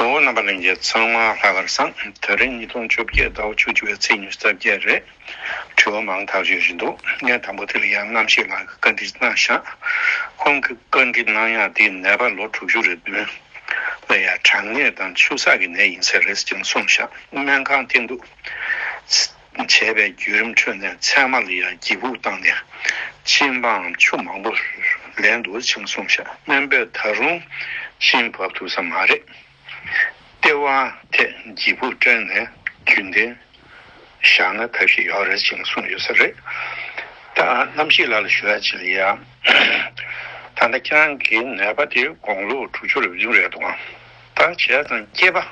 ངོ་བོ་རྣམ་པ་གླིང་རྗེ་ཚང་མ་ལྷག་གར་སངས་དོན་རིན་ཉིས་སྟོང་བཅོ་བརྒྱད་ཟླ་བ་བཅུ་བཅུ་བའི་ཚེས་ཉེར་རྩ་བརྒྱད་རེད། དྲི་བ་མང་དག་བརྗོད་བཞིན་འདུག་ངས་དང་པོ་དེ་ལ་ཡང་རྣམ་ཤེས་ལགས་ཀྱི་བཀའ་འདྲི་གནང་ཞག་ཁོང་གི་བཀའ་འདྲི་གནང་ཡག་འདི་ནད་པ་ལོ་དྲུག་ཅུ་རེ་བདུན་ལ་ཡང་གྲང་ནད་དང་ཆུ་སག་གི་ནད་ཡིན་ཟེར་རེས་ཀྱང་གསུངས་ཞག་སྨན་ཁང་བསྟན་འདུག། བྱས་པའི་བརྒྱུད་རིམ་ཁྲོད་ནས་མཚན་མ་ལ་ཡང་གྱིས་ཕུག་བཏང་ནས་གཅིན་པའམ་ཆུ་མང་པོ་ལེན་དུ་བཅིངས་སོང་ཞེས་སྨན་པས་ད་རུང་གཤིན་བབས་ཐུབ་ས་མ་རེད། ལྟེ་བ་ཐད་གྱིས་ཕུག་སྤྲེལ་ནས་རྒྱུན་ལྡན་བཞག་ན་ཐབས་ཤེས་ཡོད་རེད་ཅེས་གསུངས་ཡོད་ས་རེད། ད་རྣམ་ཤེས་ལ་ལ་ཞུ་ཡ་ཅི་ལ་ཡ། ད་ལྟ་ཁྱེད་རང་གི་ནད་པ་དེ་དགོང་ལོ་དྲུག་ཅུ་རེ་བདུན་རེད་འདུག་ཨང། བར་བྱེད་དང་སྐྱེས་པ།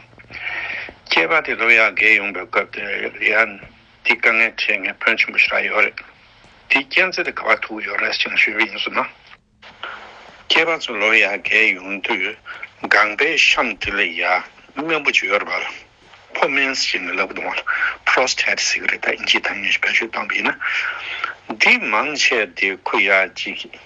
སྐྱེས་པ་དེ་ལོ་ཡར་རྒས་ཡོང་པའི་སྐབས་དེ་ཡར། དེའི་དཀའ་ངལ་འཕྲད་ངེས་བོན་ཆེན་པོ་ཞིག་ལ་ཡོད་རེད། དེའི་རྐྱེན་ཚེ་དེ་ག་བར་ཐུག་ཡོད་རེད་ཅེས་ཞུས་པ་ཡིན་ཟེར་ན། སྐྱེས་པ་ཚོ་ལོ་ཡར་རྒས་ཡོང་དུས་སྒང་པའི་གཤམ་དེ་ལ་ཡར་སྨན་བུ་ཅིག་ཡོད་རེད་པ་ལ། ཕོ་མེན་ཞེས་ནི་ལབ་ཀི་དང་བ་ལ། Prostate Cigarette། དབྱིན་ཇིའི་ཐ་སྙད་ཞིག་བེད་སྤྱོད་བཏང་བ་ཡིན་ན། འདིས་མང་ཆེ་བ་དེ་ཁུ་ཡར་གཅིག་གིས་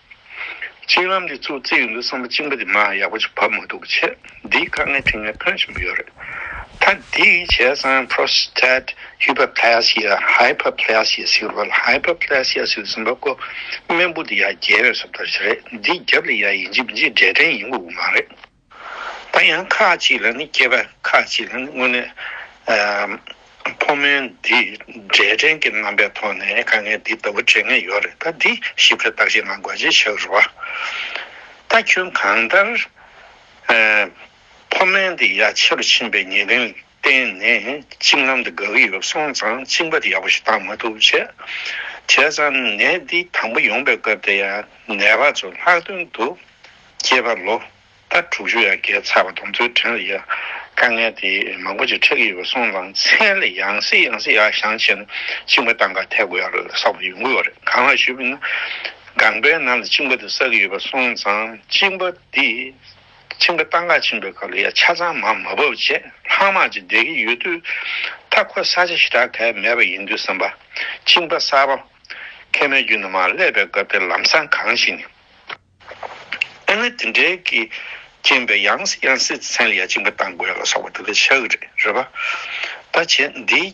གཅིག་ལམ་འདི་ཚོ་བརྩི་གི་འདུག་བསམ་པ་གཅིག་འབའ་དེ་མ་ཡག་པོ་ཅིག་བབ་མ་འདུག་ཆེད་འདིའི་དཀའ་ངལ་དྲིན་ལན་ཕོན་ཆེན་པོ་ཡོད་རེད་ད་འདི་གི་བྱས་ཙང Prostate Hyperplasia Hyperplasia ཟེར་བ་ལ Hyperplasia ཟེར་ཟིན་པ་ཀོ་རྨེན་བུ་དེ་ཡར་རྒྱས་པའི་སོབ་ལྟར་བྱེད་རེད་འདི་རྒྱབ་ལ་ཡ་ཡིན་ཅིག་མི་འཇིག་འབྲས་སྐྲན་ཡིན་དགོས་དགོས་མ་རེད། ད་ཡང་ཁ་ཅིག་ལ་ནི་སྐྱེས་པ་ཁ་ཅིག་ལ་ནི་སྔོན་ནས་ཕོ་མོའི་འདི་འབྲས་སྐྲན་གྱི་རྣམ་པའི་ཐོག་ནས་དཀའ་ངལ་འདི་ལྟ་བུ་འཕྲད་ངེས་ཡོད་རེད་ད་འདི་ཞིབ་ཕྲ་བརྟག་དཔྱད་གནང་དགོས་ཅེས་བཤད་གི་རེད་བ། ད་ཁྱོད་གང་ལྟར་ཕོ་མོའི་འདི་ཡ་ཆེ་རུ་ཕྱིན་པའི་ཉེ་རིང་བརྟེན་ནས་གཅིག་ལམ་དུ་དགའ་གི་ཡོད་སོང་ཙང་གཅིག་འབད་ཡག་པོ་ཞིག་བཏང་མ་ཐུབ། བྱས་ཙང་ནད་འདི་དང་པོ་ཡོང་པའི་སྐབས་དེ་ཡང་ནད་པ་ཚོ་ལྷག་དོན་དུ་སྐྱེས་པ་ལོ་ཟླ་དྲུག་ཅུ་ཡར་བརྒལ་ཚར་བ་དང་ཚུལ་ཁྲིམས་ལ་ཡང་དཀའ་ངལ་དེ་མང་པོ་ཅིག་འཕྲད་ཀྱི་ཡོད་སོང་ཙང་མཚན་ལ་ཡང་སྲིད་ཡང་སྲིད་ཡ་ཞང་བྱས་ན་གཅིག་འབད་ཏང་ཁ་ཐད་དགོས་ཡག་ལ་བསགས་པ་ཡོང་གི་ཡོད་རེད་གང་ལགས་ཞུས་པ་ན་སྒང་པའི་ནང་ལ་གཅིག་འབད་དུ་བསགས་ཀྱི་ཡོད་པ་སོང་ཙང་གཅིག་འབད་དེ་ཆིངས་པ་སྟག་འགག་ཆིངས་པའི་སྐབས་ལ་ཡང་ཆ་ཚང་མ་མ་བབས་རྗེས་ལྷག་མ་ཅིག་འདེབས་ཀྱི་ཡོད་དུས། ད་ཁོ་ས་ཆ་ཞེ་དྲག་གས་མེད་པ་ཡིན་དུས་བསམ་པ། ཆིངས་པ་གསར་པ། མཁལ་མའི་རྒྱུད་ན་མ་སླེབས་པའི་སྐབས་དེར་ལམ་སང་གང་ཞིག་ནས། ཨེ་ན་དེ་འདྲའི་གིས་རྐྱེན་པས་ཡང་སྲིད་ཡང་སྲིད་ཚན་ལ་ཡང་ཆིངས་པ་བཏང་དགོས་ལ་སོགས་པ་དེ་འདྲ་ཆགས་ཀྱི་རེད་རེད་པ། ད་བྱས་འདིའི།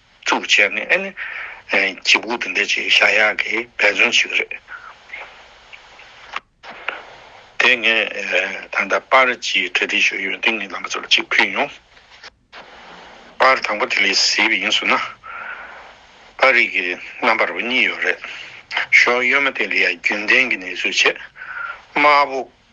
བཙུགས་བྱས་ནས་ཨེ་ནི། གྱི་སྦུག་དེ་འདི་ཅིག་ཤ་ཡག་གི་འབད་བརྩོན་ཞིག་རེད། དེ་ངས་ད་ལྟ་པར་གྱི་གྲ་སྒྲིག་ཞུ་ཡུལ་འདི་ངའི་ལམ་བུ་ཚོ་ལ་གཅིག་ཕུལ་ཡོང། པར་དང་པོ་དེ་ལས་བཟི་བ་ཡིན་ཟུར་ན། པར་རིགས་ཀྱི་རྣམ་པར་བ་གཉིས་ཡོད་རེད། ཞོ་གཡོན་མ་དེ་ལ་ཡང་རྒྱུན་ལྡན་གྱི་ནས་བཟོས་བྱས། དམར་པོ།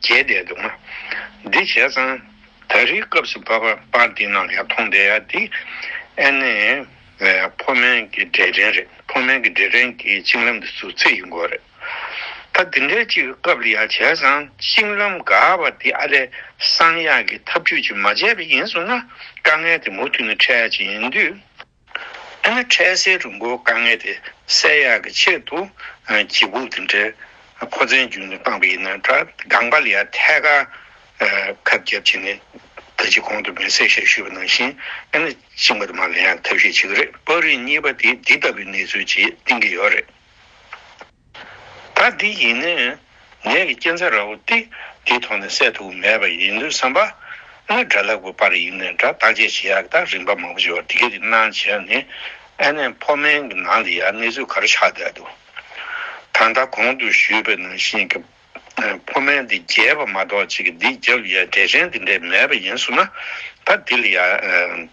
བྱས་བསྡད་འདུག་ང། འདི་བྱས་ཙང། ད་རེའི་སྐབས་སུ་བབ་པ་པ་འདི་ནང་ཡར་མཐོང་བསྡད་ཡ་འདི། ཨེ་ནས། ཕོ་མན་གྱི་འབྲས་སྐྲན་རེད་ཕོ་མན་གྱི་འབྲས་སྐྲན་གྱི་གཅིན་ལམ་དུ་ཟུག་ཚེ་ཡིན་དགོས་རེད། ད་འདི་འདྲའི་ཅིག་སྐབས་ལ་ཡར་བྱས་ཙང་གཅིན་ལམ་འགག་པ་འདི་ཨ་རེ་གསང་ཡག་གི་ཐབས་ཇུས་ཅིག་མ་བྱས་པ་ཡིན་སོང་ན་དཀའ་ངལ་དེ་མུ་མཐུད་ནས་འཕྲད་ཀྱི་ཡིན་དུས། ཨ་མའི་འཕྲལ་སེལ་རིན་གོང་དཀའ་ངལ་དེ་སེལ་ཡག་གི་ཆེད་དུ་གྱི་བུག་དེ་འདྲའི་ཕོ་མཚན་རྒྱུན་དུ་བཏང་བ་ཡིན་ན་འདྲ་སྒང་པ་ལ་ཡང་ཐད་ཀར་ཁབ་རྒྱབ་བྱས་ནས་ད་ཅི་གོང་དུ་མེ་བསྲེགས་ཞེས་ཞུས་པ་ནང་བཞིན་ཨ་མའི་གཅིག་མ་དུ་མ་ལ་ཡང་ཐབས་ཤེས་བྱེད་ཀྱི་རེད་པར་རིགས་གཉིས་པ་དེ་འདི་ལྟ་བུའི་གནས་ཚུལ་ཅིག་གཏིང་གི་ཡོད་རེད། ད་འདི་ཡིན་ནི། ངེད་ཀྱི་སྐྱེ་མཚམས་ར་བོ་ཏི་འདི་མཐོང་ནས་སད་ཐུབ་མེད་པ་ཡིན་དུས་བསམ་པ། སྔར་དགྲ་ལྷ་དགུ་པར་ཡིན་ནས་དགྲ་བཏགས་དཔྱད་བྱེད་ཡག་དག་རིམ་པ་མང་པོ་བྱས་པ་འདི་ག་གི་སྣང་བྱས་ནི། ཨ་ནེ་ཕོ་དམན་གྱི་ནང་དུ་ཡང་གནས་ཚུལ་ག་རེ་ཆགས་བསྡད་འདུག་ད་ལྟ་གོང་དུ་ཞུས་པའི་ནང་བཞིན་གྱི། ཕོ་དམན་འདི་རྒྱས་པ་མ་གཏོགས་ཅིག་གི་འདི་རྒྱབ་ཡས་འབྲས་ཆན་འདི་འདྲས་མེད་པ་ཡིན་གསུངས་ན། ད་འདི་ལ་ཡང།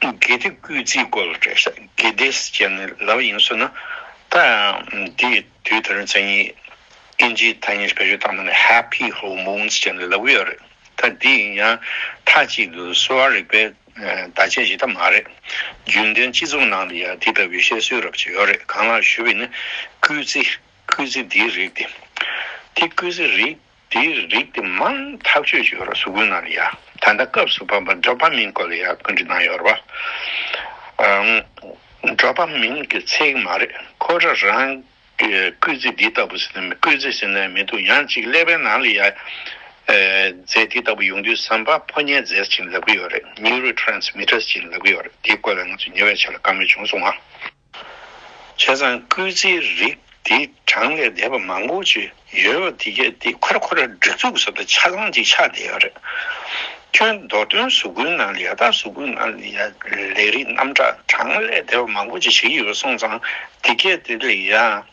དགེ་སྡིག་བསྐུལ་རྩིས་སྐོར་ལ་སྤྲོས་བཤད་དགེ་སྡེ་ཅན་ནི་ལ་བ་ཡིན་བསོད་ན་ད་ཡང་འདི་དུས་དེ་རིང་མཚན་ཉིད་ཨིན་ཇིའི་ཐ་སྙད་བེད་སྤྱོད་བཏང་མིན་ནི Happy Whole Moons ཅན་ནི་ལ་བུ་ཡོད་རེད་ད་དེ་ཡིན་ཡང་མཐའ་གཅིག་ཏུ་གསོ་བ་རིག་པའི་བརྡ་ཆད་བཞེས་ཐབས་མ་རེད་རྒྱུན་ལྡན་སྤྱི་ཚོགས་ནང་དུ་ཡང་དེ་ལྟ་བུའི་བཤད་སྲོལ་རབ་ཆད་ཡོད་རེད་གང་ལགས་ཞུ་བའི་ནི་བསྐུལ་རྩིས་བསྐུལ་རྩིས་དེའི་རིགས་དེ་དེ་བསྐུལ་རྩིས་རིགས། དེའི་རིགས་དེ་མང་ཐག་གཅོད་བྱེད་རོགས་ཟུར་བཀོད་གནང་རོགས་ཡ། ད་ལྟ་སྐབས་སུ་བབ་པ་འབྲོག་པ་མིང་བཀོད་ལ་ཡ་བཀོད་འབྲི་གནང་ཡོད་རེད། འབྲོག་པ་མིང་གི་ཚིག་མ་རེད་ཁོ་ར་རང་གི་སྐུལ་རྩི་འདི་ལྟ་བུ་ཟིན་ན་མི་སྐུལ་རྩི་ཟིན་ན་མི་འདུག་ཡང་གཅིག་ཀླད་པའི་ནང་ལ་ཡ། རྫས་དེ་ལྟ་བུ་ཡོང་དུས་ཟམ་པ་ཕོ་ཉའི་རྫས་སུ་བྱིན་ལབ་ཀྱི་ཡོད་རེད Neurotransmitters བྱིན་ལབ་ཀྱི་ཡོད་རེད་དེ་བཀོད་ལ་ང་ཚོ་ཉེ་བའི་ཆ་ལ་དཀའ་མོལ་བྱུང་སོང་ང། བྱས་ཙང་སྐུལ་རྩིའི་རིགས་དེ་གྲངས་ལས་འདས་པ་མང་པོ་ཅི་ཡོད་པ་དེ་གས་དེ་ཁོ་ར་ཁོ་ར་སྒྲིག་འཛུགས་ཟེར་ན་ཆ་ཚང་གཅིག་ཆགས་བསྡད་ཡོད་རེད། ཁྱོད་མདོ་དོན་གཟུགས་སྐུའི་ནང་ལས་ཡག་དག་གཟུགས་སྐུའི་ནང་ལས་ཡག་ལས་རིགས་རྣམ་གྲངས་གྲངས་ལས་འདས་པ་མང་པོ་ཅི་བྱས་ཡོད་པ་གསུངས་ཙང་དེ་གས་དེ་ལས་ཡག་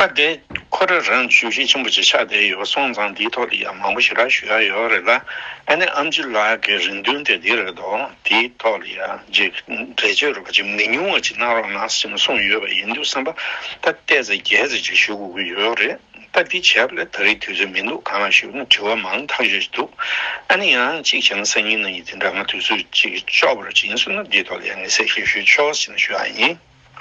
སྐབས་དེར་ཁོ་རང་རང་གི་ཞུ་བཞེས་ཆེན་པོ་ཞིག་ཆགས་བསྡད་ཡོད་པ་སོང་ཙང་དེའི་ཐོག་ཏུ་ཡང་མང་པོ་ཞིག་ར་ཞུ་ཡག་ཡོད་རེད་ལ་ཨ་ནེ་ཨམ་ཅི་ལགས་ཀྱི་རེ་འདུན་དེ་འདི་རེད་དོ་དེའི་ཐོག་ལ་ཡང་རྗེས་འབྲེལ་བརྗོད་རོགས་པ་ཅིག་མི་ཉུང་བ་ཅིག་གནང་རོགས་གནང་ཟེར་ནས་གསུངས་ཡོད་པ་ཡིན་འདུག་བསམ་པ་ད་བལྟས་ཚེ་རྒྱལ་མཚན་ཅིག་ཞུ་དགོས་ཀྱི་ཡོད་རེད་ད་འདི་བྱས་པ་ལས་ད་རེས་དུས་ཚོད་མི་འདུག་གང་ལ་ཞུ་ན་དྲི་བ་མང་ཐག་ཆོད་ཅིག་འདུག་ཨ་ནེ་ཡང་གཅིག་བྱས་ན་སང་ཉིན་གནང་ཡིན་དེ་འདྲ་ང་དུས་ཚོད་ཅིག་ལྕོགས་པ་རེད་ཅིག་ཡིན་གསུངས་ན་འདིའི་ཐོག་ལ་ཡང་ངེས་ཚད་ཞིག་ཞུ་ཆོག་ཟེར་ནས་ཞུ་ཡག་ཡིན།